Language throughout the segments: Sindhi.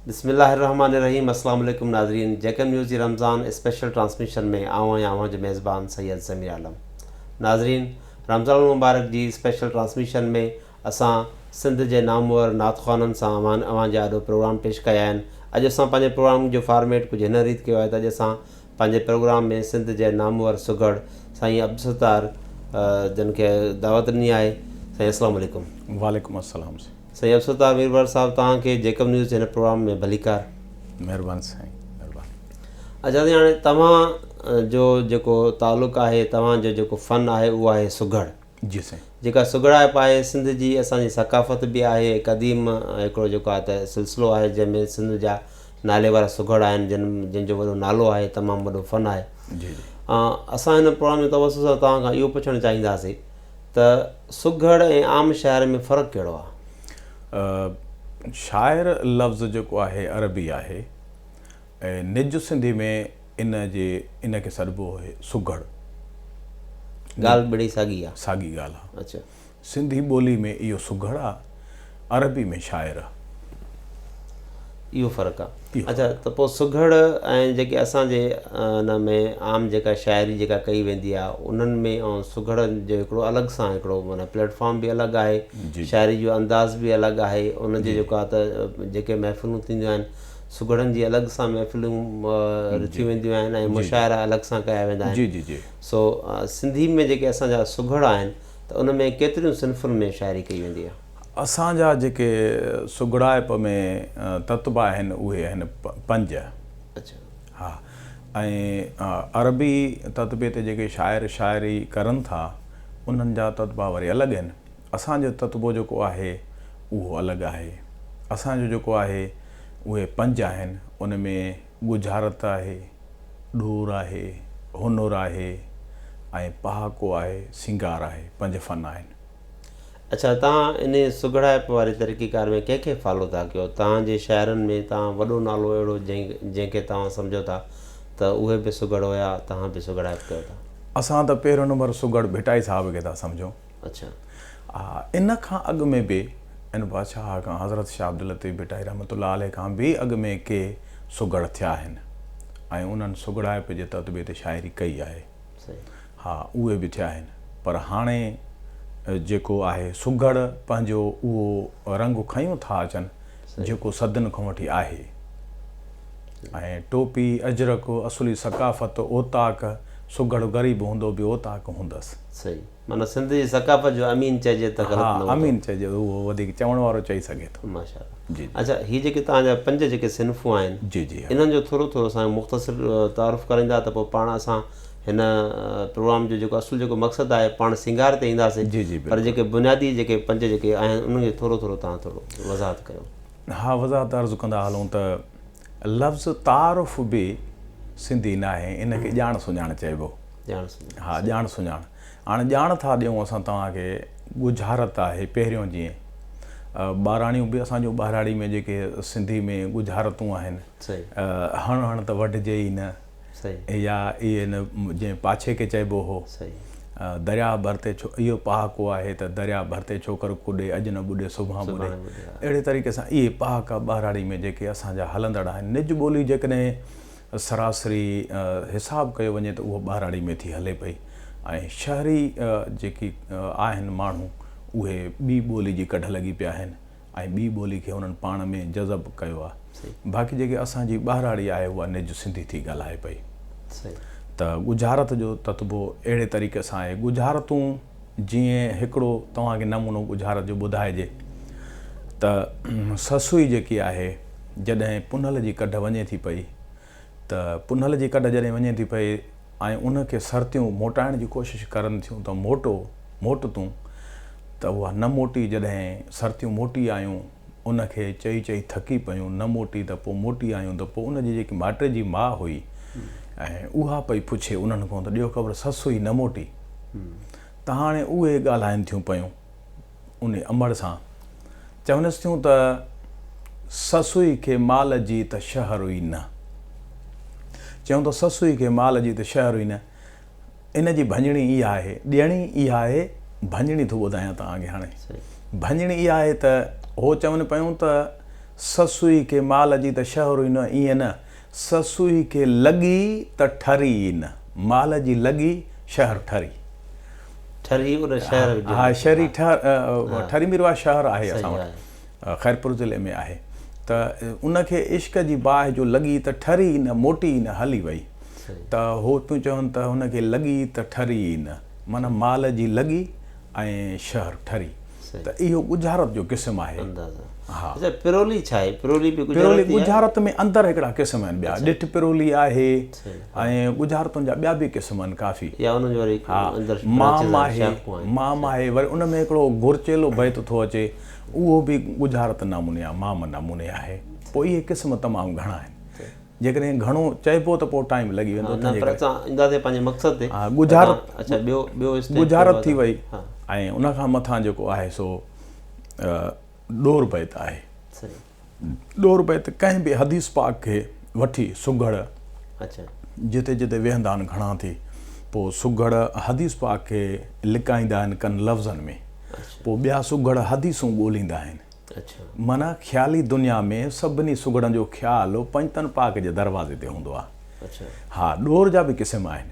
بسم الله الرحمن الرحيم السلام عليڪم ناظرين جيڪم نيوز جي رمضان اسپيشل ٽرانسميشن ۾ آئون آهيان اوهان جو ميزبان سيد ضمير عالم ناظرين رمضان المبارڪ جي اسپيشل ٽرانسميشن ۾ اسان سنڌ جي نامور نعت خوانن سان اوهان اوهان جي آڏو پروگرام پيش ڪيا آهن. اڄ اسان پنهنجي پروگرام جو فارميٽ ڪجهه هن ريت ڪيو آهي ته اڄ اسان پنهنجي پروگرام ۾ سنڌ جي نامور سگهڙ سائين عبدالستار جن کي دعوت ڏني آهي. سائين اسلام عليڪم. وعليڪم السلام سائين. سائين عبدالستار ويرواڙ صاحب توهان کي جيڪب نيوز جي هن پروگرام ۾ ڀليڪار. مهربان سائين مهربان. اچا سائين هاڻي توهان جو جيڪو تعلق آهي توهان جو جيڪو فن آهي اهو آهي سگهڙ. جي سائين. جيڪا سگهڙائپ آهي سنڌ جي اسان جي ثقافت به آهي هي قديم هڪڙو جيڪو آهي ته سلسلو آهي جنهن ۾ سنڌ جا نالي وارا سگهڙ آهن جن جن جو وڏو نالو آهي تمام وڏو فن آهي جي جي اسان هن پروگرام جي توسط سان توهان کان اهو پڇڻ چاهينداسي ته سگهڙ ۽ عام شاعر ۾ فرق ڪهڙو آهي شاعر لفظ جيڪو آهي عربي آهي ۽ نج سنڌي ۾ ان جي ان کي سڏبو آهي سگهڙ. ڳالهه ٻڙي ساڳي آ. ساڳي ڳالهه آ. اڇا. سنڌي ٻولي ۾ اهو سگهڙ آ. عربي ۾ شاعر آ. اهو فرق آ. اڇا ته پوء سگهڙ ۽ جيڪي اسان جي ان ۾ عام جيڪا شاعري جيڪا ڪئي ويندي آ انهن ۾ ۽ سگهڙ جو هڪڙو الڳ سان هڪڙو معنيٰ پليٽ فارم به الڳ آهي. شاعري جو انداز به الڳ آهي. ان جي جيڪا ته جيڪي محفلون ٿينديون آهن سگهڙن جي الڳ سان محفلون رٿيون وينديون آهن ۽ مشاعرا الڳ سان ڪيا ويندا آهن. سو سنڌي ۾ جيڪي اسان جا سگهڙ آهن ته ان ۾ ڪيتريون صنفن ۾ شاعري ڪئي ويندي آهي؟ اسان جا جيڪي سگهڙائپ ۾ تتبع آهن اهي آهن پنج. ها ۽ عربي تتبع تي جيڪي شاعر شاعري ڪرن ٿا انهن جا تتبع وري الڳ آهن. اسان جو تتبو جيڪو آهي اهو الڳ آهي. اسان جو جيڪو آهي اهي پنج آهن، ان ۾ ڳجهارت آهي، ڏور آهي، هنر آهي ۽ پهاڪو آهي، سينگار آهي، پنج فن آهن. اڇا توهان انهي سگهڙائپ واري طريقيڪار ۾ ڪنهن کي فالو ٿا ڪيو؟ توهان جي شاعرن ۾ توهان وڏو نالو اهڙو جنهن کي توهان سمجهو ٿا ته اهي به سگهڙ هيا توهان به سگهڙائپ ڪيو ٿا؟ اسان ته پهريون نمبر سگهڙ ڀٽائي صاحب کي ٿا سمجهون. اڇا آ ان کان اڳ ۾ به ان بادشاهه کان حضرت شاهه عبداللطيف ڀٽائي رحمة الله عليه کان به اڳ ۾ ڪي سگهڙ ٿيا آهن ۽ انهن سگهڙائپ جي تتبعي تي شاعري ڪئي آهي صحيح ها اهي به ٿيا آهن پر هاڻي جيڪو آهي سگهڙ پنهنجو اهو رنگ کنيون ٿا اچن جيڪو صدين کان وٺي آهي ۽ ٽوپي اجرڪ اصلي ثقافت اوطاق سگهڙ غريب هوندو به اوطاق هوندس صحيح معنيٰ سنڌ جي ثقافت جو امين چئجي ته غلط نه هوندو. ها امين چئجي ته اهو وڌيڪ چوڻ وارو چئي سگهي ٿو. ماشاء الله. جي جي. اچا هي جيڪي توهان جا پنج جيڪي صنفون آهن. جي جي ها. انهن جو ٿورو ٿورو اسان کي مختصر تعارف ڪرائيندا ته پوء پاڻ اسان هن پروگرام جو جيڪو اصل جيڪو مقصد آهي پاڻ سينگار تي اينداسين. جي جي پر بلڪل. جيڪي بنيادي جيڪي پنج جيڪي آهن انهن کي ٿورو ٿورو توهان ٿورو وضاحت ڪيو. ها وضاحت عرض ڪندا هلون ته لفظ تعارف به سنڌي ناهي، ان کي ڄاڻ سڃاڻ چئبو. ڄاڻ سڃاڻ. ها ڄاڻ سڃاڻ. هاڻ ڄاڻ ٿا ڏيون اسان توهان کي، ڳجهارت آهي پهريون جيئن ٻاراڻيون به اسان جون ٻهراڙي ۾ جيڪي سنڌي ۾ ڳجهارتون آهن، هڻ هڻ ته وڍجي ئي نه. يا ان جنهن پاڇي کي چئبو هو، درياء ڀر تي ڇو اهو پهاڪو آهي ته درياء ڀر تي ڇوڪر ڪڏي، اڄ نه ٻڏي سڀان ٻڏي. اهڙي طريقي سان اهي پهاڪا ٻهراڙي ۾ جيڪي اسان جا هلندڙ آهن، نج ٻولي جيڪڏهن سراسري حساب ڪيو وڃي ته اهو ٻهراڙي ۾ ٿي هلي پئي ۽ شهري جيڪي آهن ماڻهو اهي ٻي ٻولي جي ڪڍ لڳي پيا آهن ۽ ٻي ٻولي کي انهن پاڻ ۾ جذب ڪيو آ باقي جيڪي اسان جي ٻاهراڙي آهي اها نج سنڌي ٿي ڳالهائي پئي ته ڳجهارت جو تتبو اهڙي طريقي سان آهي ڳجهارتون جيئن هڪڙو توهان کي نمونو ڳجهارت جو ٻڌائجي ته سسوئي جيڪي آهي جڏهن پنهل جي ڪڍ وڃي ٿي پئي ته پنهل جي ڪڍ جڏهن وڃي ٿي پئي ۽ ان کي سرتيون موٽائڻ جي ڪوشش ڪرن ٿيون ته موٽو، موٽ تون، ته اها نه موٽي جڏهن سرتيون موٽي آيون ان کي چئي چئي ٿڪي پيون نه موٽي ته پوء موٽي آيون ته پوء ان جي جيڪي مائٽي جي ماء هئي ۽ اها پئي پڇي انهن کان ته ڏيو خبر سس هئي نه موٽي ته هاڻي اهي ڳالهائن ٿيون پيون. ان امڙ سان چونس ٿيون ته سسئي کي مال جي ته شهر ئي نه. چيون ته سسئي کي مال جي ته شهر ئي نه. ان جي ڀڃڻي اها آهي، ڏيڻي اها آهي، ڀڃڻي ٿو ٻڌايان توهان کي هاڻي. ڀڃڻي اها آهي ته هو چون پيون ته سسئي کي مال جي ته شهر ئي نه، ائين نه، سسئي کي لڳي ته ٺري ئي نه، مال جي لڳي شهر ٺري. ٺري ان شهر جو. ها شهري ٺري مير واهه شهر آهي اسان وٽ خيرپور ضلعي ۾ آهي ته ان کي عشق جي باهه جو لڳي ته ٺري ئي نه موٽي ئي نه هلي وئي ته هو پيون چون ته ان کي لڳي ته ٺري ئي نه معنيٰ مال جي لڳي ۽ شهر ٺري. ته اهو ڳجهارت جو قسم آهي. اندازا. ها. اچا پرولي ڇا آهي؟ پرولي به ڳجهارت پرولي، ڳجهارت ۾ اندر هڪڙا قسم آهن ٻيا. ڏٺ پرولي آهي ۽ ڳجهارتن جا ٻيا به قسم آهن ڪافي. يا انهن جون وري اندر شاخون آهن. مام آهي، مام آهي وري ان ۾ هڪڙو گورچيلو بيت ٿو اچي اهو به ڳجهارت ناموني آهي، مام ناموني آهي. پوء اهي قسم تمام گهڻا آهن. جيڪڏهن گهڻو چئبو ته پوء ٽائيم لڳي ويندو. نه پر اسان اينداسين پنهنجي مقصد تي. ها ڳجهارت. اڇا ٻيو ٻيو اسٽيپ. ڳجهارت ٿي وئي ۽ ان کان مٿان جيڪو آهي سو ڏور بيت آهي. صحيح. ڏور بيت ڪنهن به حديث پاڪ کي وٺي سگهڙ. اڇا. جتي جتي ويهندا آهن گهڻا ٿي پوء سگهڙ حديث پاڪ کي لڪائيندا آهن ڪن لفظن ۾. اڇا. پوء ٻيا سگهڙ حديثون ڳوليندا آهن. معنيٰ خيالي دنيا ۾ سڀني سگهڙن جو خيال پنجتن پاڪ جي دروازي تي هوندو آهي. ها، ڏور جا به قسم آهن.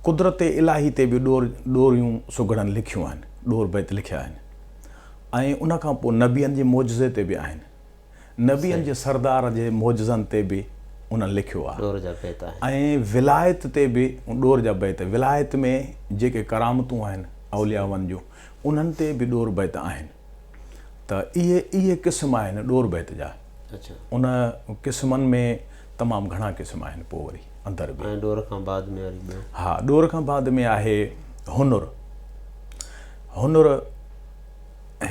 قدرت الاهي تي به ڏور، ڏوريون، سگهڙن لکيون آهن، ڏور بيت لکيا آهن ۽ ان کان پوء نبين جي معجزي تي به آهن. نبين جي سردار جي معجزن تي به انهن لکيو آهي ۽ ولايت تي به ڏور جا بيت، ولايت ۾ جيڪي ڪرامتون آهن اوليائن جون، انهن تي به ڏور بيت آهن ته اهي اهي قسم آهن ڏور بيت جا ان قسمن ۾ تمام گهڻا قسم آهن پوء وري اندر به ۽ ڏور کان بعد ۾ وري ٻيو ها ڏور کان بعد ۾ آهي هنر هنر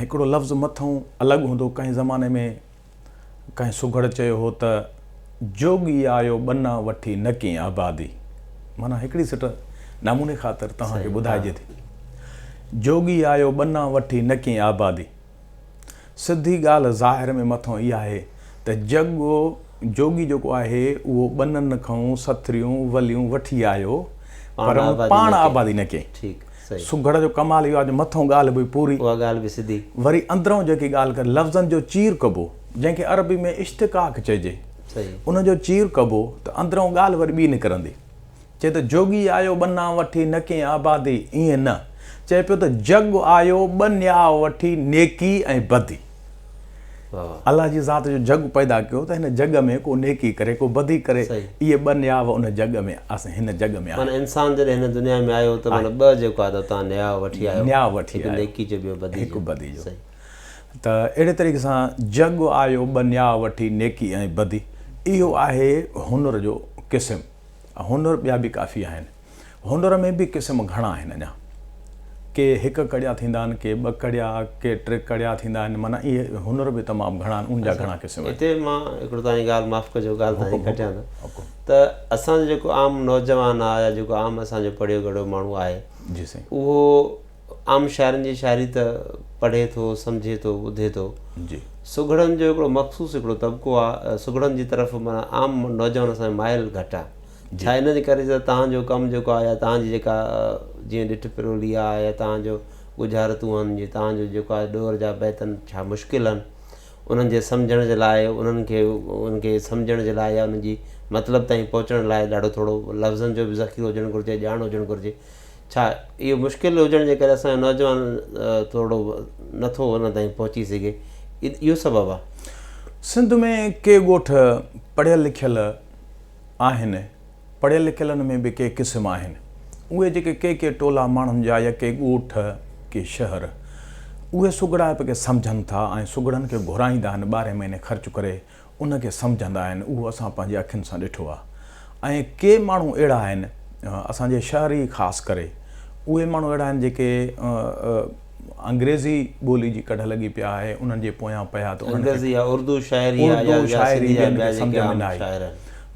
هڪڙو لفظ مٿئون الڳ هوندو ڪنهن زماني ۾ ڪنهن سگهڙ چيو هو ته، جوڳي آيو ٻنا وٺي نه ڪين آبادي. معنيٰ هڪڙي سٽ نموني خاطر توهان کي ٻڌائجي ٿي. جوڳي آيو ٻنا وٺي نه ڪين آبادي. سڌي ڳالهه ظاهر ۾ مٿون اها آهي ته جڳو جوڳي جيڪو آهي اهو ٻنن کئون سٿريون وليون وٺي آيو پر ان پاڻ آبادي نه ڪئي. سگهڙ جو ڪمال اهو آهي جو مٿئون ڳالهه به پوري، وري اندرئون جيڪي ڳالهه ڪري، لفظن جو چير ڪبو، جنهن کي عربي ۾ اشتقاق چئجي، ان جو چير ڪبو ته اندرئون ڳالهه وري ٻي نڪرندي. چئي ته جوڳي آيو ٻنا وٺي، نه ڪئين آبادي، ائين نه، چئي پيو ته جڳ آيو ٻنياء وٺي، نيڪي ۽ بدي. الله جي ذات جو جڳ پيدا ڪيو ته هن جڳ ۾ ڪو نيڪي ڪري ڪو بدي ڪري اهي ٻه نياو ان جڳ ۾ آسن هن جڳ ۾ آهن. معنيٰ انسان جڏهن هن دنيا ۾ آيو ته معنيٰ ٻه جيڪو آهي اتان نياو وٺي آيو. نياو وٺي آيو. هڪ نيڪي جو ٻيو بدي جو. هڪ بدي جو. صحيح. ته اهڙي طريقي سان جڳ آيو ٻه نياو وٺي نيڪي ۽ بدي اهو آهي هنر جو قسم هنر ٻيا به ڪافي آهن. هونئر ۾ به قسم گهڻا آهن اڃا ڪي هڪ ڪڙيا ٿيندا آهن ڪي ٻه ڪڙيا ڪي ٽي ڪڙيا ٿيندا آهن معنيٰ اهي هونئر به تمام گهڻا آهن ان جا گهڻا قسم آهن. هتي مان هڪڙو تهانجي ڳالهه معاف ڪجو ڳالهه تهانجي ڪٽيان ٿو ته اسان جو جيڪو عام نوجوان آهي يا جيڪو عام اسان جو پڙهيو ڳڙهيو ماڻهو آهي اهو عام شاعرن جي شاعري ته پڙهي ٿو سمجهي ٿو ٻڌي ٿو سگهڙن جو هڪڙو مخصوص هڪڙو طبقو آهي سگهڙن جي طرف معنيٰ عام نوجوان اسان جو مائل گهٽ آهي ڇا ان جي ڪري ته توهان جو ڪم جيڪو آهي يا توهان جي جيڪا جيئن ڏٺ پرولي آهي يا توهان جو ڳجهارتون هن جي توهان جو جيڪو آهي ڏور جا بيت هن ڇا مشڪل هن انهن جي سمجهڻ جي لاء انهن کي انهن کي سمجهڻ جي لاء يا انهن جي مطلب تائين پهچڻ لاء ڏاڍو ٿورو لفظن جو به ذخيرو هجڻ گهرجي ڄاڻ هجڻ گهرجي ڇا اهو مشڪل هجڻ جي ڪري اسان جو نوجوان ٿورڙو نه ٿو انهن تائين پهچي سگهي اهو سبب آهي. سنڌ ۾ ڪي ڳوٺ پڙهيل لکيل آهن، پڙهيل لکيلن ۾ به ڪي قسم آهن، اهي جيڪي ڪي ڪي ٽولا ماڻهن جا يا ڪي ڳوٺ، ڪي شهر، اهي سگهڙائپ کي سمجهن ٿا ۽ سگهڙن کي گهرائيندا آهن، ٻارهين مهيني خرچ ڪري ان کي سمجهندا آهن، اهو اسان پنهنجي اکين سان ڏٺو آهي ۽ ڪي ماڻهو اهڙا آهن، اسان جي شهر ئي خاص ڪري اهي ماڻهو اهڙا آهن جيڪي انگريزي ٻولي جي ڪڍ لڳي پيا آهي انهن جي پويان پيا ته انهن کي اردو شاعري ٻين کي سمجهه ۾ نه آئي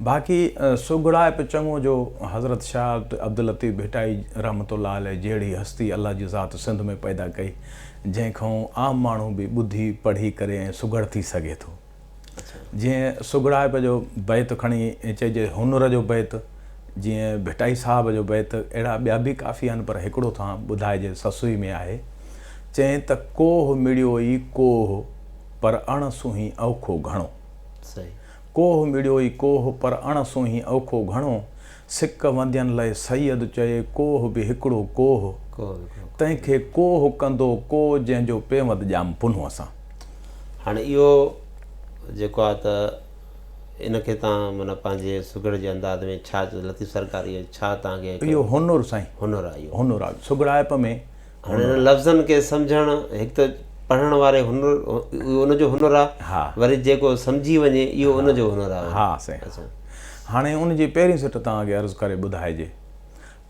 باقي سگهڙائپ چڱو جو حضرت شاهه عبداللطيف ڀٽائي رحمة الله عليه جهڙي هستي الله جي ذات سنڌ ۾ پيدا ڪئي جنهن کان عام ماڻهو به ٻڌي پڙهي ڪري ۽ سگهڙ ٿي سگهي ٿو. جيئن سگهڙائپ جو بيت کڻي چئجي، هنر جو بيت، جيئن ڀٽائي صاحب جو بيت، اهڙا ٻيا به ڪافي آهن پر هڪڙو ٿا ٻڌائجي سسوئي ۾ آهي، چئين ته ڪوهه مڙيو ئي ڪوهه پر اڻ سونهين اوکو گهڻو. ڪوهه مڙيو ئي ڪوهه پر اڻ سونهين اوکو گهڻو. سڪ وندين لئه سيد چئي ڪوه به هڪڙو ڪوه تنهن کي ڪوه ڪندو ڪو جنهن جو پيوند ڄام پنهونء سان. هاڻي اهو جيڪو آ ته ان کي تان معنيٰ پنهنجي سگهڙ جي انداز ۾ ڇا چئو لطيف سرڪار اهو ڇا تان کي هڪڙو. اهو هنر سائين. هنر آ اهو. هنر آ سگهڙائپ ۾. هاڻي انهن لفظن کي سمجهڻ هڪ ته پڙهڻ واري هنر اهو ان جو هنر آهي وري جيڪو سمجهي وڃي اهو ان جو هنر آهي ها سائين هاڻي ان جي پهرين سٽ توهان کي عرض ڪري ٻڌائجي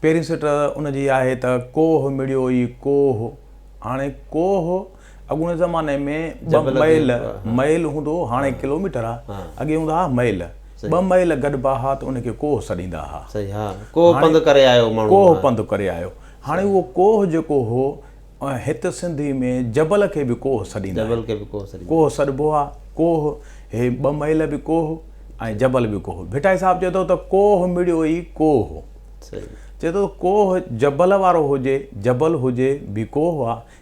پهرين سٽ ان جي آهي ته ڪوهه مڙيو ئي ڪوهه هاڻي ڪوهه اڳوڻي زماني ۾ ٻه ميل ميل هوندو هو هاڻي ڪلوميٽر آهي اڳي هوندا هئا ميل ٻه ميل گڏبا هئا ته ان کي ڪوهه سڏيندا هئا ڪوهه پنڌ ڪري آيو ماڻهو ڪوهه پنڌ ڪري آيو هاڻي اهو ڪوهه جيڪو هو، هت سنڌي ۾ جبل کي به ڪوهه سڏيندا آهن. جبل کي به ڪوهه سڏيندا. ڪوهه سڏبو آهي. ڪوهه، هي ٻه ميل به ڪوهه ۽ جبل به ڪوهه. ڀٽائي صاحب چئي ٿو ته ڪوهه مڙيو ئي ڪوهه هو. صحيح. چئي ٿو ته ڪوهه جبل وارو هجي، جبل هجي، به ڪوهه آهي.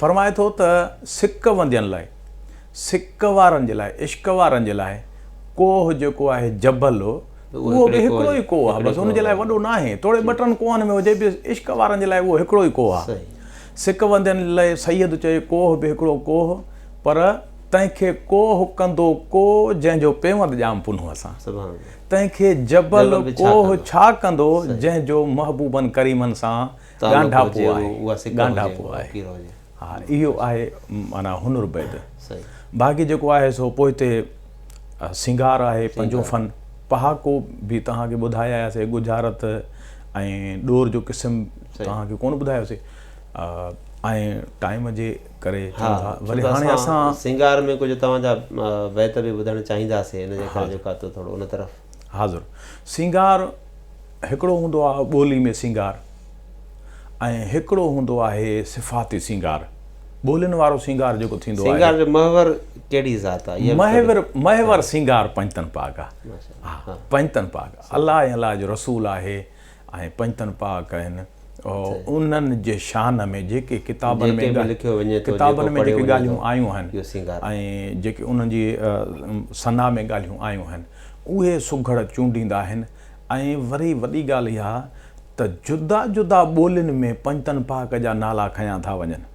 فرمائي ٿو ته سڪ وندين لاء، سڪ وارن جي لاء، عشق وارن جي لاء ڪوهه جيڪو آهي جبل اهو به هڪڙو ئي ڪوهه آهي بس ان جي لاء وڏو ناهي توڙي ٻه ٽن ڪوهن ۾ هجي به عشق وارن جي لاء اهو هڪڙو ئي ڪوهه آهي سڪ وندين لاء سيد چئي ڪوهه به هڪڙو ڪوهه پر تنهن کي ڪوهه ڪندو ڪو جنهن جو پيوند ڄام پنهون اسان تنهن کي جبل ڪوهه ڇا ڪندو جنهن جو محبوبن ڪريمن سان ڳانڍاپو آهي، ڳانڍاپو آهي. ها اهو آهي معنيٰ هنر بيد. باقي جيڪو آهي سو پوئتي سينگار آهي پنجون فن. پهاڪو به توهان کي ٻڌائي آياسي ڳجهارت ۽ ڏور جو قسم توهان کي ڪونه ٻڌايوسي. ۽ ٽائيم جي ڪري چئون ٿا وري هاڻي اسان. سينگار ۾ ڪجهه توهان جا بيت به ٻڌڻ چاهينداسي ان جي ڪري جيڪو آهي تو ٿورو ان طرف. حاضر سينگار هڪڙو هوندو آهي ٻولي ۾ سينگار ۽ هڪڙو هوندو آهي صفاتي سينگار ٻولين وارو سينگار جيڪو ٿيندو آهي سينگار جو محور ڪهڙي ذات آهي محور محور سينگار پنجتن پاڪ آهي پنجتن پاڪ الله ۽ الله جو رسول آهي ۽ پنجتن پاڪ آهن انهن جي شان ۾ جيڪي ڪتابن ۾ ڪتابن ۾ جيڪي ڳالهيون آيون آهن ۽ جيڪي انهن جي ثنا ۾ ڳالهيون آيون آهن اهي سگهڙ چونڊيندا آهن ۽ وري وڏي ڳالهه اها ته جدا جدا ٻولين ۾ پنجتن پاڪ جا نالا کنيا ٿا وڃن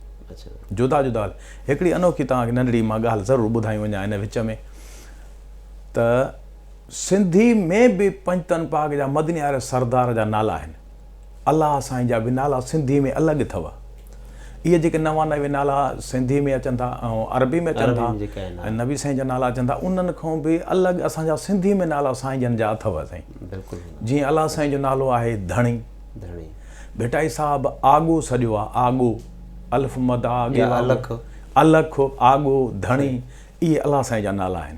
جدا جدا هڪڙي انوکي توهان کي ننڍڙي مان ڳالهه ضرور ٻڌائي وڃان ان وچ ۾ ته سنڌي ۾ به پنجتن پاڪ جا مدني واري سردار جا نالا آهن. الله سائين جا به نالا سنڌي ۾ الڳ اٿو. اهي جيڪي نوانوي نالا سنڌي ۾ اچن ٿا ۽ عربي ۾ اچن ٿا ۽ نبي سائين جا نالا اچن ٿا انهن کان به الڳ اسان جا سنڌي ۾ نالا سائين جن جا اٿو سائين. جيئن الله سائين جو نالو آهي ڌڻي. ڀٽائي صاحب آڳو سڏيو آ آڳو الف مد آ الک الک آڳو ڌڻي اهي الله سائين جا نالا آهن.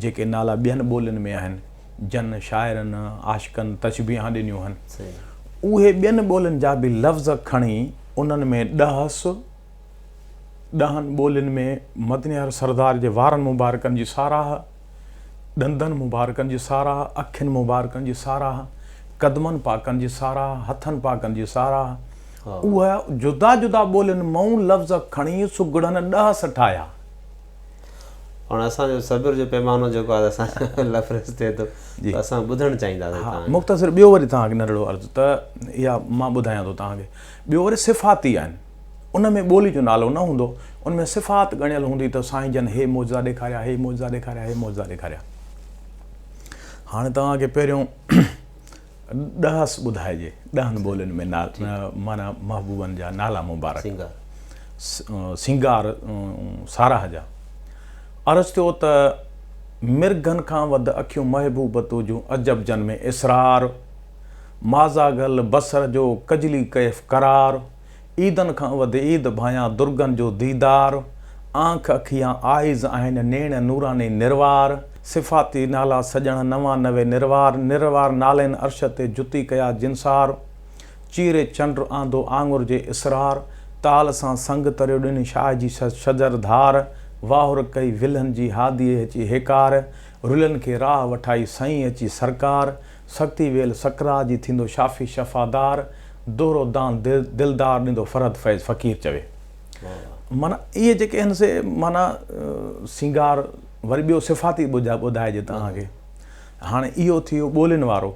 جيڪي نالا ٻين ٻولين ۾ آهن، جن شاعرن، عاشقن تشبيهان ڏنيون هن، اهي ٻين ٻولين جا به لفظ کڻي انهن ۾ ڏهس، ڏهن ٻولين ۾ مدنيار سردار جي وارن مبارڪن جي ساراهه، ڏندن مبارڪن جي ساراهه، اکين مبارڪن جي ساراهه، قدمن پاڪن جي ساراهه، هٿن پاڪن جي ساراهه، اهي جدا جدا ٻولين مئون لفظ کڻي سگهڙن ڏهس ٺاهيا. هاڻ اسان جو صبر جو پيمانو جيڪو آهي اسان کان لفريز ٿئي ٿو ته اسان ٻڌڻ چاهينداسين توهان کان. مختصر ٻيو وري توهان کي نرڙو عرض ته اها مان ٻڌايان ٿو توهان کي ٻيو وري صفاتي آهن ان ۾ ٻولي جو نالو نه هوندو ان ۾ صفات ڳڻيل هوندي ته سائين جن هي معجزا ڏيکاريا هي معجزا ڏيکاريا هي معجزا ڏيکاريا هاڻ توهان کي پهريون ڏهس ٻڌائجي ڏهن ٻولين ۾ معنيٰ محبوبن جا نالا مبارڪ سينگار ساراهه جا عرض ٿيو ته مرگهن کان وڌ اکيون محبوب تو جون عجب جن ۾ اسرار مازاغل بصر جو ڪجلي ڪيف قرار عيدن کان وڌ عيد ڀانيان درگن جو ديدار، آنک اکيان آئيز آهن نيڻ نوراني نروار، صفاتي نالا سڄڻ نوان نوي نروار، نروار نالين عرش تي جتي ڪيا جنسار، چيري چنڊ آندو آڱر جي اسرار، تال سان سنگ تريو ڏني شاهه جي شجر ڌار، واهر ڪئي ولهن جي هاديء اچي هيڪار، رلين کي راهه وٺائي سائين اچي سرڪار، سرتي ويل سڪرات جي ٿيندو شافي شفا دار دور و دان دلدار ڏيندو فرحت فيض فقير چوي معنيٰ اهي جيڪي آهن سي معنيٰ سينگار وري ٻيو صفاتي ٻڌائجي توهان کي هاڻي اهو ٿي ويو ٻولين وارو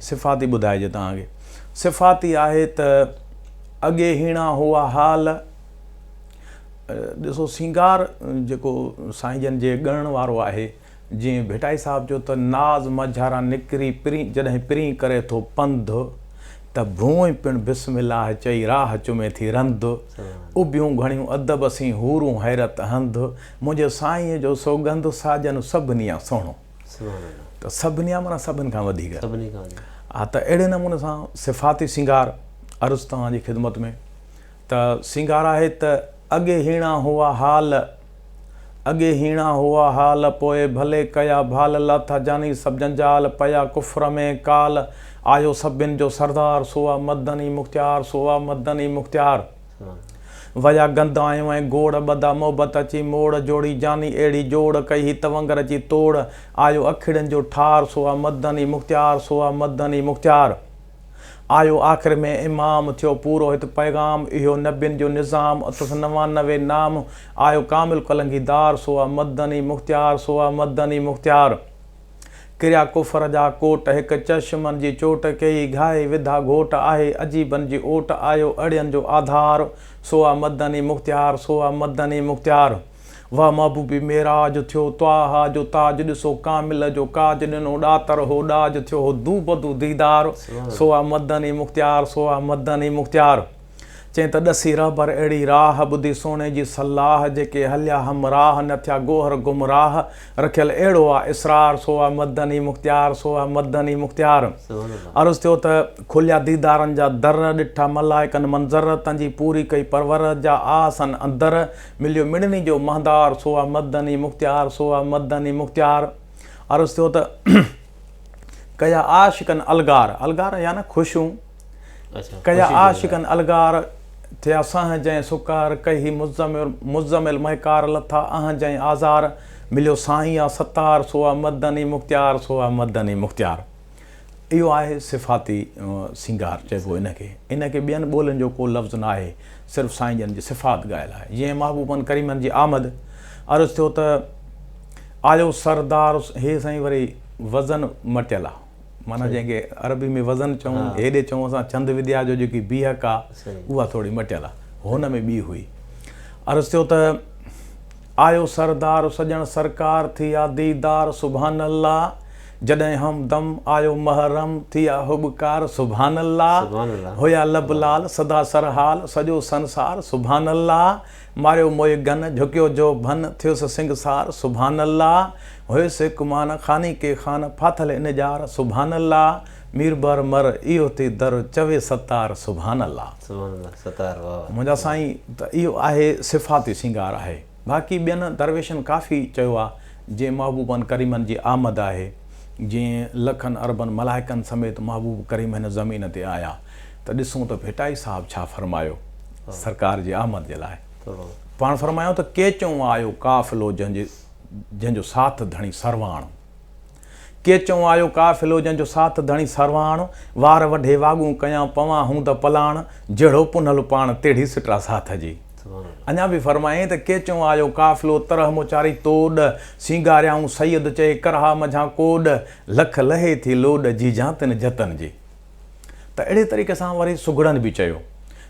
صفاتي ٻڌائجي توهان کي صفاتي آهي ته اڳي هيڻا هئا حال ڏسو سينگار جيڪو سائين جن جي ڳڻڻ وارو آهي جي ڀٽائي صاحب چيو ته ناز مجهارا نڪري پرين جڏهن پرين ڪري ٿو پنڌ ته ڀونء پڻ بسم الله چئي راهه چمي ٿي رنڌ اڀيون گهڻيون ادب سين حورون حيرت هنڌ منهنجي سائينء جو سوگنڌ ساجن سڀنيان سهڻو ته سڀنيان معنيٰ سڀن کان وڌيڪ ها ته اهڙي نموني سان صفاتي سينگار عرض توهان جي خدمت ۾. ته سينگار آهي ته اڳي هيڻا هئا حال اڳي هيڻا هئا حال پوء ڀلي ڪيا ڀال لاٿا جاني سڀ جنجال پيا ڪفر ۾ ڪال آيو سڀن جو سردار سو آ مدني مختيار سو آ مدني مختيار ويا گند آيون ۽ گوڙ ٻڌا محبت اچي موڙ جوڙي جاني اهڙي جوڙ ڪئي هي تونگر اچي توڙ آيو اکڙين جو ٺار سو آ مدني مختيار سو آ مدني مختيار. آيو آخر ۾ امام، ٿيو پورو هت پيغام، اهو نبين جو نظام، اٿس نوانوي نام، آيو ڪامل ڪلنگي دار، سو آ مدني مختيار، سو آ مدني مختيار. ڪريا ڪفر جا ڪوٽ، هڪ چشمن جي چوٽ، ڪيئي گهائي وڌا گهوٽ، آهي عجيبن جي اوٽ، آيو اڙين جو آڌار، سو آ مدني مختيار، سو آ مدني مختيار. واه محبوبي معراج ٿيو طٰهٰ جو تاج ڏسو ڪامل جو ڪاج ڏنو ڏاتر هو ڏاج ٿيو هو دو بدو ديدار سو آ مدني مختيار سو آ مدني مختيار چئين ته ڏسي رهبر اهڙي راهه ٻڌي سهڻي جي صلاح جيڪي هليا همراهه نه ٿيا گوهر گمراهه رکيل اهڙو آ اسرار سو آ مدني مختيار سو آ مدني مختيار عرض ٿيو ته کليا ديدارن جا در ڏٺا ملائڪن منظر تنهنجي پوري ڪئي پرورهه جا آ سن اندر مليو مڙني جو مهندار سوئا مدني مختيار سوئا مدني مختيار عرض ٿيو ته ڪيا عاشقن الگار الگار يا نه خوشون اچھا، ڪيا عاشقن الگار ٿيا سهن جئين سڪار ڪهي مزمل مزمل مهڪار لٿا اهن جئين آزار مليو سائين آ ستار سوئا مدني مختيار سوئا مدني مختيار. اهو آهي صفاتي سينگار چئبو ان کي. ان کي ٻين ٻولين جو ڪو لفظ نه آهي، صرف سائين جن جي صفات ڳايل آهي. جيئن محبوبن ڪريمن جي آمد، عرض ٿيو ته، آيو سردار هي سائين وري وزن مٽيل آ، معنيٰ جنهن کي عربي ۾ وزن چئون، هيڏي چئون اسان ڇند وديا جو جيڪي بيهڪ آ، اها ٿوري مٽيل آ. هن ۾ ٻي هئي. عرض ٿيو ته، آيو سردار سڄڻ سرڪار ٿي آ ديدار سبحان الله. جڏهن همدم آيو محرم، ٿيا هٻڪار سبحان الله، هيا لب لعل سدا سرحال، سڄو سنسار سبحان الله، ماريو موئي گن، جهڪيو جو ڀن، ٿيس سنگسار سبحان الله، هيس هڪ مان، خاني ڪي خان، ڦاٿل ان ڄار سبحان الله، مير بر مر، اهو ٿي در، چوي ستار سبحان الله. منهنجا سائين ته اهو آهي صفاتي سينگار آهي. باقي ٻين درويشن ڪافي چيو آ جي محبوبن ڪريمن جي آمد آهي جي لکن اربن ملائڪن سميت محبوب ڪريم هن زمين تي آيا ته ڏسون ته ڀٽائي صاحب ڇا فرمايو سرڪار جي آمد جي لاء پاڻ فرمايائون ته ڪيچئون آيو قافلو جنهن جي جنهن جو ساٿ ڌڻي سرواڻ. ڪي چئون آيو قافلو جنهن جو ساٿ ڌڻي سرواڻ، وار وڍي واڳون ڪيان پوان هون ته پلاڻ، جهڙو پنهل پاڻ تهڙي سٽرا ساٿ جي. اڃا به فرمائين ته ڪي چئون آيو قافلو طرح مون چاري توڏ، سينگاريائون سيد چئي ڪرها منجهان ڪوڏ، لک لهي ٿي لوڏ جيجان تن جتن جي. ته اهڙي طريقي سان وري سگهڙن به چيو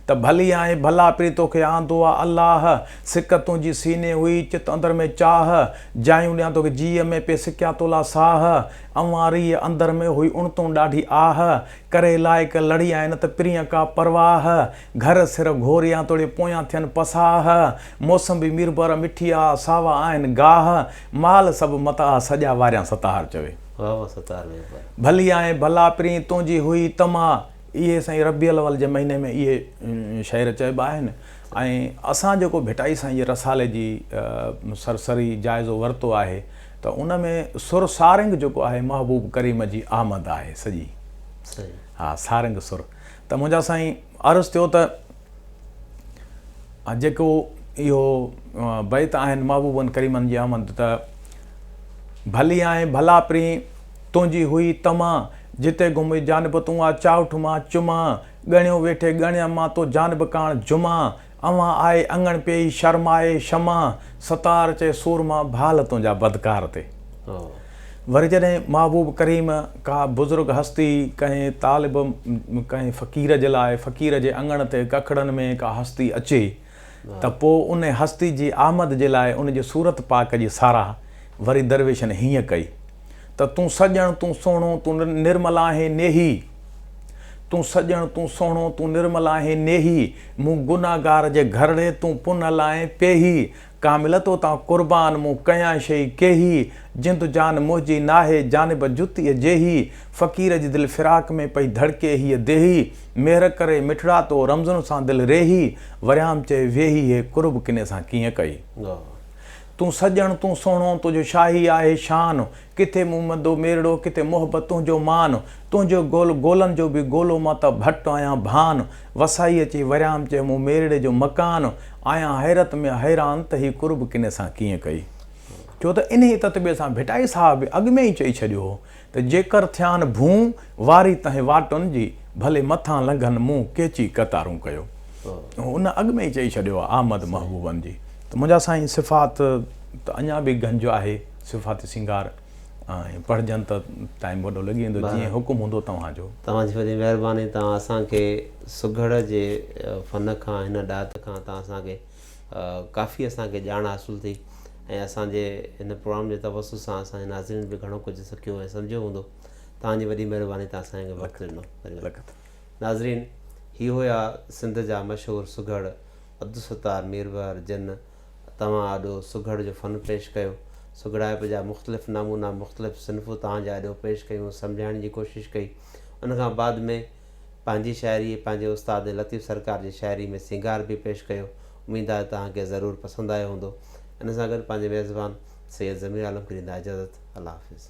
ته ڀلي آهي ڀلا پري توکي آندو آ الله سڪ تنهنجي سيني هئي چت اندر ۾ چاهه جايون ڏيان توکي جيء ۾ پي سڪيا تولا ساهه اوهان ريء اندر ۾ هئي اڻتون ڏاڍي آهه ڪري لائق لڙي آئين نه ته پرينء ڪا پرواهه گهر سر گهوريان توڙي پويان ٿين پساهه موسمبي ميربر مٺي آ ساوا آهن گاهه مال سڀ متاهه سڄا واريان ستاهر چوي واھ واھ ستار مير پر. ڀلي آهين ڀلا پرين تنهنجي هئي طمع اهي سائين ربيع الاول جي مهيني ۾ اهي شعر چئبا آهن ۽ اسان جيڪو ڀٽائي سائين جي رسالي جي سرسري جائزو ورتو آهي ته ان ۾ سر سارنگ جيڪو آهي محبوب ڪريم جي آمد آهي سڄي صحيح ها سارنگ سر ته منهنجا سائين عرض ٿيو ته جيڪو اهو بيت آهن محبوبن ڪريمن جي آمد ته ڀلي آهي ڀلا پرين تنهنجي هئي طمع جتي گهمي جانب تون آ چاهٺ مان چماء ڳڻيو ويٺي ڳڻيان مان تو جانب ڪاڻ جماء اوهان آء اڱڻ پيئي شرم آء شمع ستار چئي سورما ڀال تنهنجا بدڪار تي وري جڏهن محبوب ڪريم ڪا بزرگ هستي ڪنهن طالب ڪنهن فقير جي لاء فقير جي اڱڻ تي ڪکڙن ۾ ڪا هستي اچي ته پوء ان هستي جي آمد جي لاء ان جي صورت پاڪ جي ساراهه وري درويشن هيئن ڪئي ته تون سڄڻ تون سهڻو تون نرمل آهين نيهي تون سڄڻ، تون سهڻو، تون نرمل آهين، نيهي! مون گنهگار جي گهرڙي، تون پنهل آهين، پيهي! ڪامل تو تان قربان، مون ڪيان شيء ڪيهي! جند جان منهنجي ناهي، جانب جتيء جيهي! فقير جي دل فراق ۾ پئي ڌڙڪي هيء ديهي! مهر ڪري مٺڙا تو رمزن سان دل ريهي! وريام چئي ويهي، هي قرب ڪني سان ڪيئن ڪئي؟ تون سڄڻ، تون سهڻو، تنهنجو شاهي آهي شان. ڪٿي مون مندو ميرڙو ڪٿي محبت تنهنجو مان تنهنجو گول گولن جو به گولو مان ته ڀٽ آهيان ڀان وسائي اچي وريام چئي مون ميرڙي جو مڪان آهيان حيرت ۾ حيران ته هي قرب ڪني سان ڪيئن ڪئي ڇو ته انهي تتبي سان ڀٽائي صاحب به اڳ ۾ ئي چئي ڇڏيو هو ته جيڪر ٿيان ڀون واري تنهن واٽن جي ڀلي مٿان لنگهن مون ڪيچي قطارون ڪيو ان اڳ ۾ ئي چئي ڇڏيو آهي احمد محبوبن جي ته منهنجا سائين صفات ته اڃا به گنج آهي. صفات سينگار ۽ پڙهجن ته ٽائيم وڏو لڳي ويندو جيئن حڪم هوندو توهان جو. توهان جي وڏي مهرباني توهان اسان کي سگهڙ جي فن کان هن ڏات کان توهان اسان کي ڪافي اسان کي ڄاڻ حاصل ٿي ۽ اسان جي هن پروگرام جي توسط سان اسان جي ناظرين به گهڻو ڪجهه سکيو ۽ سمجهيو هوندو توهان جي وڏي مهرباني توهان اسان کي وقت ڏنو ناظرين هي هيا سنڌ جا مشهور سگهڙ عبدالستار ميربحر جن توهان آڏو سگهڙ جو فن پيش ڪيو. سگهڙائپ جا مختلف نمونا، مختلف صنفون توهان جي آڏو پيش ڪيون، سمجهائڻ جي ڪوشش ڪئي. ان کان بعد ۾ پنهنجي شاعري ۽ پنهنجي استاد لطيف سرڪار جي شاعري ۾ سينگار به پيش ڪيو. اميد آهي توهان کي ضرور پسند آيو هوندو. ان سان گڏ پنهنجي ميزبان سيد ضمير عالم کي ڏيندا اجازت. الله حافظ.